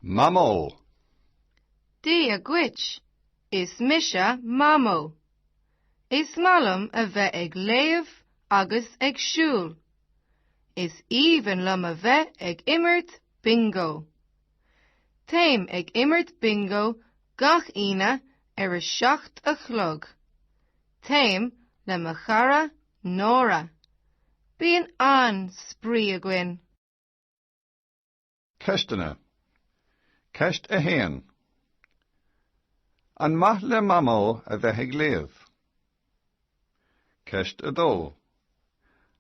Mamó. Dia dhuit, is mise Mamó. Is maith liom a bheith ag léamh agus ag siúl. Is aoibhinn liom a bheith ag imirt bingo. Téim ag imirt bingo gach Aoine ar a seacht a chlog. Téim le mo chara Nóra. Bíonn an-spraoi againn. Ceisteanna. Ceist 1. An maith le Mamó a bheith ag léamh? Ceist 2.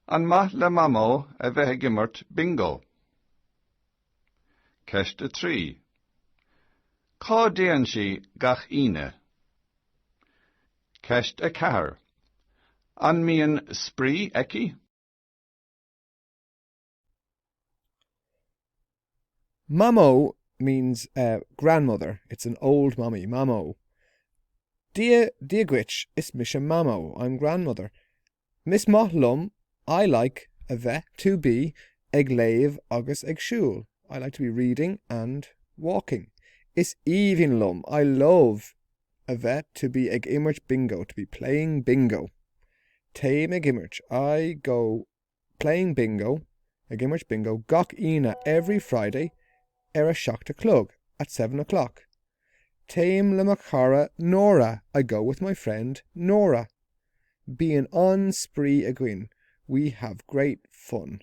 An maith le Mamó a bheith ag imirt bingo? Ceist 3. Cá dtéann sí gach Aoine? Ceist 4. An mbíonn spraoi aici? Mamó means eh grandmother, it's an old mummy, mamó, Dia Dia dhuit, is mise mamó, I'm grandmother. Is maith liom, I like, a bheith, to be, ag léamh agus ag siúl, I like to be reading and walking. Is aoibhinn liom, I love, a bheith, to be, ag imirt bingo, to be playing bingo. Téim ag imirt, I go Playing bingo, Ag imirt bingo gach Aoine, every Friday, ar a seacht a chlog, at seven o'clock. Téim le mo chara Nóra, I go with my friend Nóra. Bíonn an-spraoi againn, we have great fun.